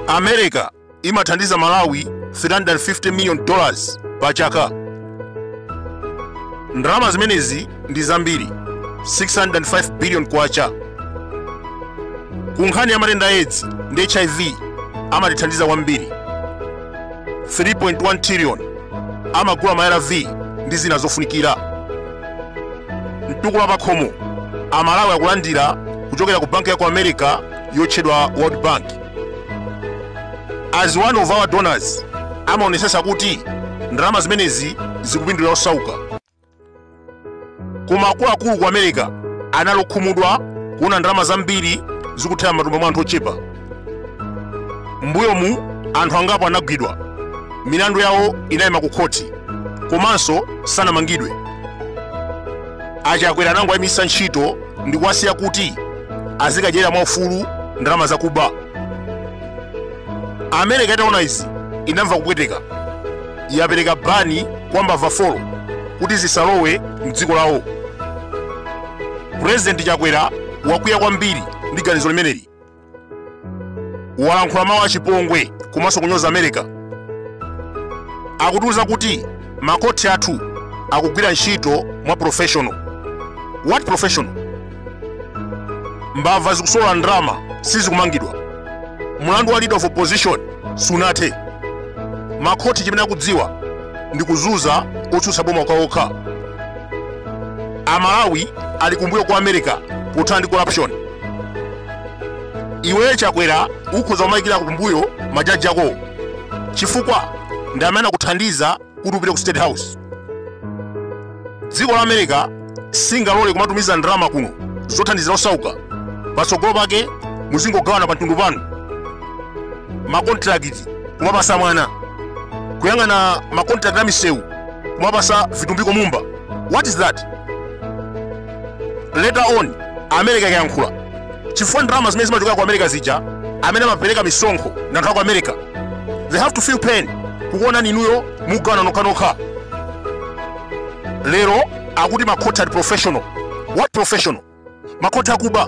america imathandiza malawi 350 million dollars pa chaka ndalama zimenezi ndi zambiri 605 billion kwacha ku nkhani ya matenda a edzi ndi hiv amatithandiza kwambiri 3.1 trillion amagula ma arv ndi zina zofunikira mtukula pakhomo amalawi akulandira kuchokera ku banki ya ku america yotchedwa world bank as one of our donors amaonesesa kuti ndalama zimenezi zikupindulira osauka koma akuluakulu ku america anali okhumudwa kuona ndalama zambiri zikuthera mmatumba mwa anthu ochepa mbuyomu anthu angapo anagwidwa milandu yawo inayima ku khoti komanso sanamangidwe achakwera anangowayimitsa ntchito ndi kuwasiya kuti azikadyera mwaufulu ndalama zakuba america itaona izi inamva kupweteka yapereka bani kwa mbava folo kuti zisalowe mdziko lawo purezidenti chakwera wakwiya kwambiri ndi ganizo limeneli walankhula mawu achipongwe komanso kunyoza america akutiuza kuti makhoti athu akugwira ntchito mwa professional what professional mbava zikusolola ndalama sizikumangidwa mlandu wa leader of opposition sunathe makhoti chimene akudziwa ndi kuzuza otsutsa boma okhaokha amalawi ali kumbuyo kwa america pothana ndi corruption iwe chakwera ukhoza kumayikirako kumbuyo majaji akowo chifukwa ndi amene anakuthandiza kuti upite ku state house dziko la america singalole kumatumiza ndalama kuno zothandizira osauka patsogolo pake muzingogawana pamtundu panu makontrakiti kumapasa mwana kuyang'ana makontrakiti a misewu kumapasa vitumbiko mumba what is that later on america ikayankhula chifukwa ndalama zimene zimachokera ku america zija amene amapereka misonkho ndi anthu aku america they have to feel pain kukuonani inuyo mugawana nokhanokha lero akuti makhoti ali professional what professional makhoti akuba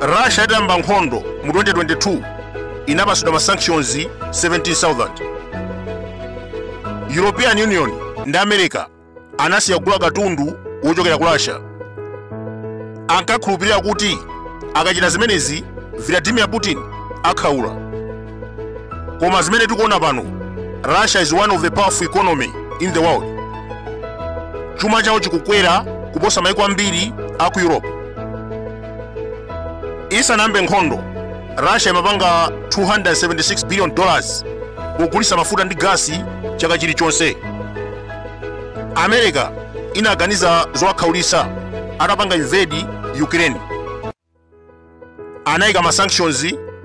russia itayamba nkhondo mu 2022 inapatsidwa ma sanctions 17000 european union ndi america anasiya kugula katundu wochokera ku russia ankakhulupirira kuti akachita zimenezi vladimir putin akhaula koma zimene tikuona pano russia is one of the powerful economy in the world chuma chawo chikukwera kuposa maiko ambiri a ku europe isanayambe nkhondo russia imapanga 276 billion dollars pogulitsa mafuta ndi gasi chaka chilichonse america inaganiza zowakhaulitsa atapanga invade ukraine anayika ma sanctions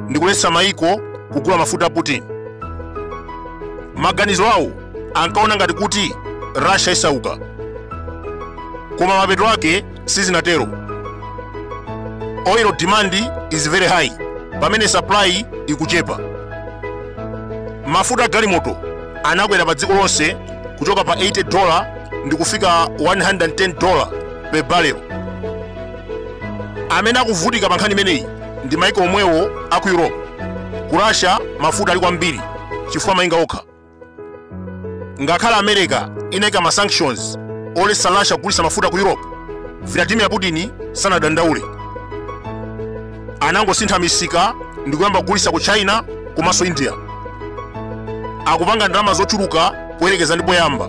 ndi kuletsa mayiko kugula mafuta a putin maganizo awo ankaona ngati kuti russia isauka koma mapeto ake sizinatero oil demand is very high pamene supply ikuchepa mafuta a galimoto anakwera pa dziko lonse kuchoka pa 80 dola ndi kufika 110 dola per barrel amene akuvutika pa nkhani imeneyi ndi maiko omwewo a ku europe ku russia mafuta ali kwambiri chifukwa amayenga okha ngakhale america inaika ma sanctions oletsa russia kugulitsa mafuta ku europe vladimir putin sanadandaule anangosintha misika ndi kuyamba kugulitsa ku china komanso india akupanga ndalama zochuluka poyerekeza ndi poyamba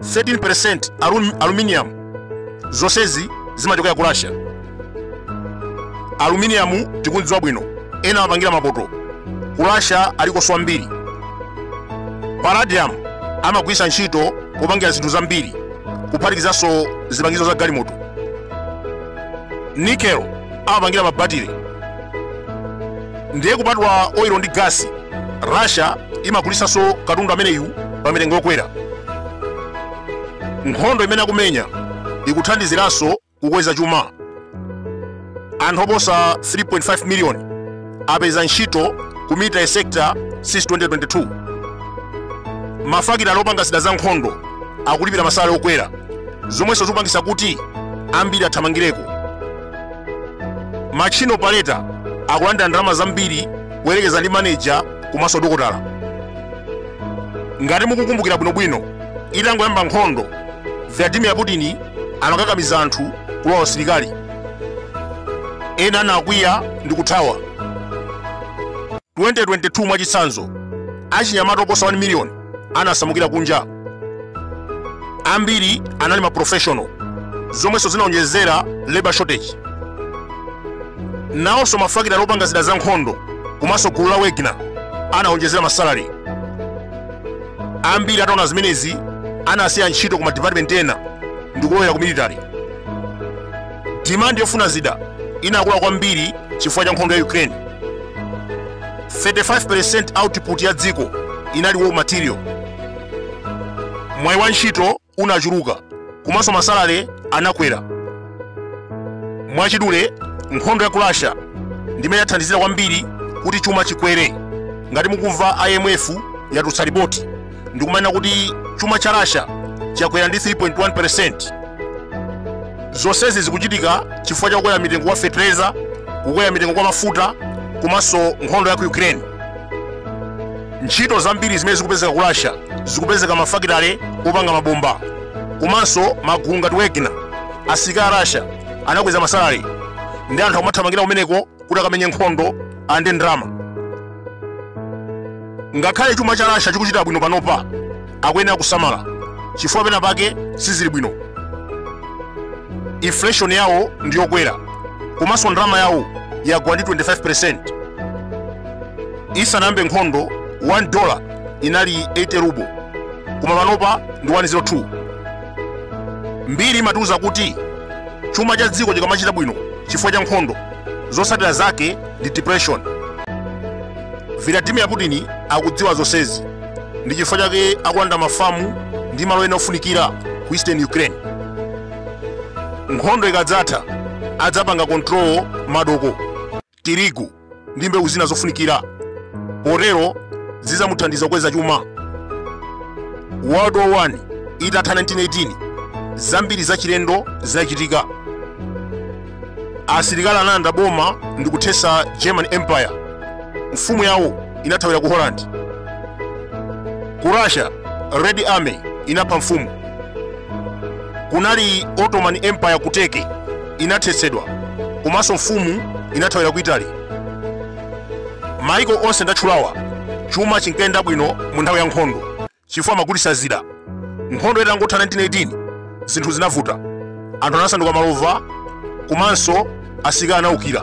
13% aluminium zonsezi zimachokera ku russia aluminium tikudziwa bwino ena amapangira mapoto ku russia alikonso wambiri palladium amagwiritsa ntchito kupangira zinthu zambiri kuphatikizanso zipangizo za galimoto nickel amapangira mabatire ndiye kupatula oil ndi gas russia imagulitsanso katundu ameneyu pa mitengo yokwera nkhondo imene akumenya ikuthandiziranso kukweza chuma anthu oposa 3.5 miliyoni apeza ntchito ku military sector since 2022 mafakitale opanga zida za nkhondo akulipira masalare okwera zomwenso zikupangitsa kuti ambiri athamangireko machine operator akulandira ndalama zambiri kuyerekeza ndi manager komanso dokotala ngati mukukumbukira bwinobwino itangoyamba nkhondo vladimir putin anakakamiza anthu kulowa usilikali ena anakwiya ndi kuthawa 2022 mwachitsanzo achinyamata oposa 1 miliyoni anasamukira kunja ambiri anali ma professional zomwenso zinaonjezera labor shortage nawonso mafakitale opanga zida za nkhondo komanso gulu la wagner anaonjezera masalare ambiri ataona zimenezi anasiya ntchito ku madipatimenti ena ndikulowera ku military Demand yofuna zida inakula kwambiri chifukwa cha nkhondo ya Ukraine. 35% output ya dziko inali raw material. Mwayi wa ntchito unachuluka komanso masalary anakwera. Mwachidule, nkhondo ya ku Russia ndimene yathandizira kwambiri kuti chuma chikwere. Ngati mukumva IMF yatulutsa ripoti ndikumanena kuti chuma cha russia chakwera ndi 3.1 percent zonsezi zikuchitika chifukwa cha kukwera mitengo kwa fetereza kukwera mitengo kwa mafuta komanso nkhondo ya ku ukraine ntchito zambiri zimene zikupezeka ku russia zikupezeka mafakitale opanga mabomba komanso magulu ngati wagner asilikali a russia anakweza masalary ndi anthu akumathamangira kumeneko kuti akamenye nkhondo ande ndalama ngakhale chuma cha russia chikuchita bwino panopa akuyenera kusamala chifukwa pena pake sizili bwino inflation yawo ndi yokwera komanso ndalama yawo yagwa ndi 25 percent isanayambe nkhondo 1 dollar inali 80 ruble koma panopa ndi 102 mbiri imatiuza kuti chuma cha dziko chikamachita bwino chifukwa cha nkhondo zotsatira zake ndi depression vladimir putin akudziwa zonsezi ndi chifukwa chake akulanda mafamu ndi malo ena ofunikira ku eastern ukraine nkhondo ikadzatha adzapanga control madoko tirigu ndi mbewu zina zofunikira potero zizamuthandiza kukweza chuma world war 1 itatha 1918 zambiri zachilendo zinachitika asilikali analanda boma ndi kuthesa german empire mfumu yawo inathawira ku holland ku russia red army inapha mfumu kunali ottoman empire ku turkey inathetsedwa komanso mfumu inathawira ku italy maiko onse ndatchulawa chuma chinkayenda bwino mu nthawi ya nkhondo chifukwa amagulitsa zida nkhondo itangotha 1918 zinthu zinavuta anthu anasanduka malova komanso asilikali anaukira